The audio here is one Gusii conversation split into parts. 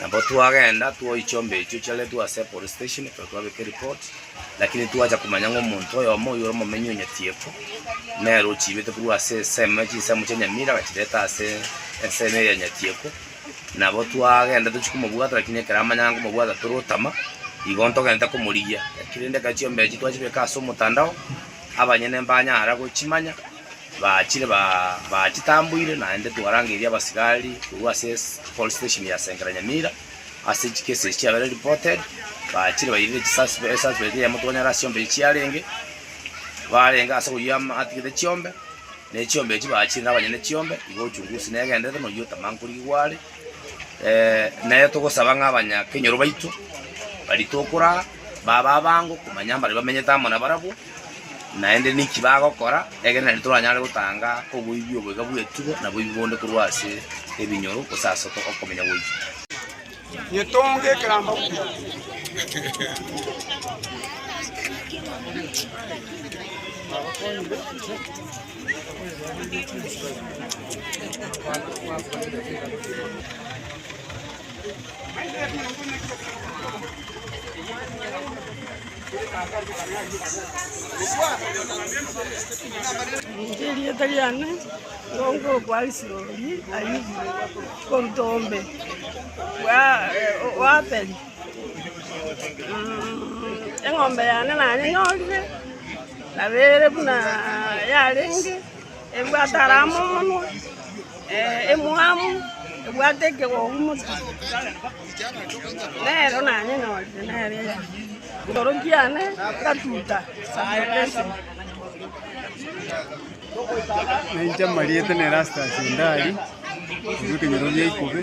Nabo twagenda twoyia chiombe echio chiaretwe ase epolice station ekero twabeka ereport, lakini twacha komanya ng'a omonto oyomo oyio ore omomenyi o Nyatiekwa, nere ochiibete korwa ase ensemo chinsemo chia Nyamira agachireta ase ensemo eye ya Nyatiekwa, nabo twagenda tochia komobwata lakini ekero amanya ng'a nkomobwata tore otama, igo ntogete komorigia, lakini rende ekero chiombe echio twachibeka ase omotandao, abanyene mbanyara gochimanya. Bachire bachitamboire naende twarangeirie abasigari korwa ase police station ya Sengera Nyamira ase echi cases echi chiabere reported, bachire bairire echi suspect suspect eyemo twanyora ase chiombe echi chiarenge, barenge ase oyio atigete chiombe, na echiombe echi bachire na abanyene chiombe, igo uchunguzi negendererete na oyio otama nkorigigwa are, nere togosaba ng'a abanya kenyoro baito baritokoraa babe abango komanya mbare bamenyete amo nabarabwo. Naende ninki bagokora, ekiagera naende toranyare gotanga oboibi oboiga bw'etugo na boibi bonde korwa ase ebinyoro gose ase okomenya goika. Nyetonge ekeramba buya. Inche erieta riane ngoongo okwa Isiuri Ayubu korwa ombe bwa Abeli. Eng'ombe yane nanyenyorire, nabeire buna yarenge. Ebwate arama omonwa, emwamu, ebwate ekegogu mono, nero nanyenyorire nere iga. Igoro kiane ngatuta esaboto esemo. Nainche amarieta na Erastus Ndari, korwa ekenyoro gia Ikobe.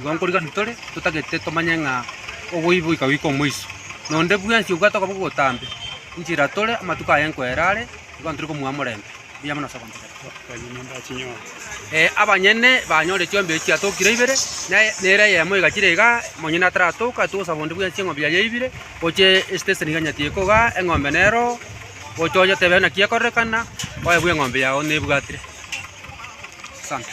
Igo nkorigania tore, totagete tomanye ng'a oboibo ikagwika omoiso. Nonde bwensi obwate okoboko ogotambe, inche ira tore, amatuko aye nkoere are, igo ntari komuha omorembe. Mbuya mono ase ogontegerera. Ee, abanyene banyore chiombia echi chiatokire ibere, na nere eyemo egachira igaa, omonyene ataratoka, atoe obosabo bonde bwensi eng'ombe yaye eibire, oche esiteseni iga nyati eko igaa, eng'ombe neroo, oche onyotebe naki ekorekana, oebwe eng'ombe yao nebwatire. Asante.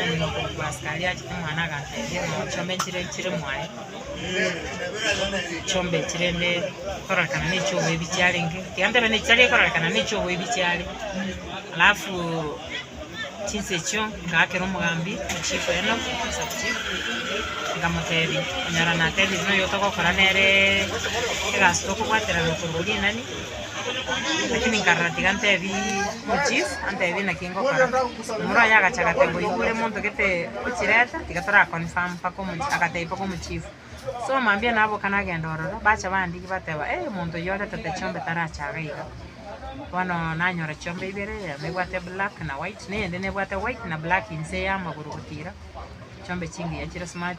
Omonto korwa Paskari achete omwana agatebia, Ng'a chombe enchera enchire mwaye, chombe enchera ende ekororekana neche oboe ebiche arenge, tigantebe nechi tari ekororekana nechi oboe ebiche are. Alafu chinsa echio ngaakera omogambi, Chief oino, Sub chief, nkamotebia, Onyora natebire noyo otogokora nere egasi tokobwaterana korwa rinani, Lakini nkarora tiga ntebi ochief antebi naki ngokora. Omura oye agacha agateba oigure monto gete ochireta tiga tora confirm mpaka omo agatebia mpaka omochief. So mambia naboka nagenda ororo bacha bandigia bateba eh monto oyio oretete chiombe tarache iga iga. Bono nanyora chiombe ibere eyemo ebwate black na white na eyende nebwate white na black inse ya amagoro gotira. Chiombe chingiya chire smart.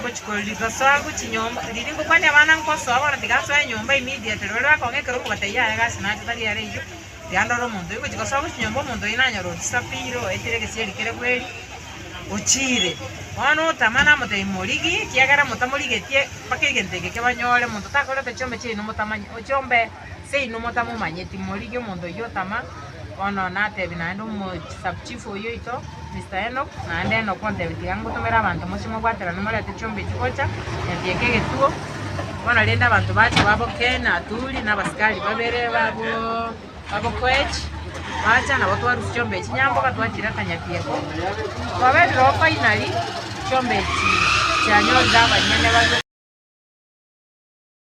Ngochikora rigosoa gochia nyomba, riria ngokwania abana ngosoa bono tigasoe nyomba immediately, baria bakong'a ekero nkobwata yaya egasi nacha tari are iga, iga ndore omonto oyo, ngochia gosoa gochia nyomba omonto oyo nanyora orisapire oetire egesieri kere bweeri, ochiire. Bono otama namotebia morigi, ekiagera motamorigetie mpaka egento eke kebanyore, monto takorete chiombe chiaino motamanye, ochie ombee. Seino motamomanyeti morigi omonto oyio otama bono natebi naende omo sub chief oyio oito Mister Enock naende Enock ontebi tiga ngotomere abanto moche mobwaterane morete chiombe echi gocha nyatieka egetuo bono rende abanto bache babo Ken Aturi na abasikari babere babo babo Koech bacha nabo twarusia chiombe echi Nyamboga twachireta nyatieko twabebire oo finally chiombe echi chianyorire abanyene babe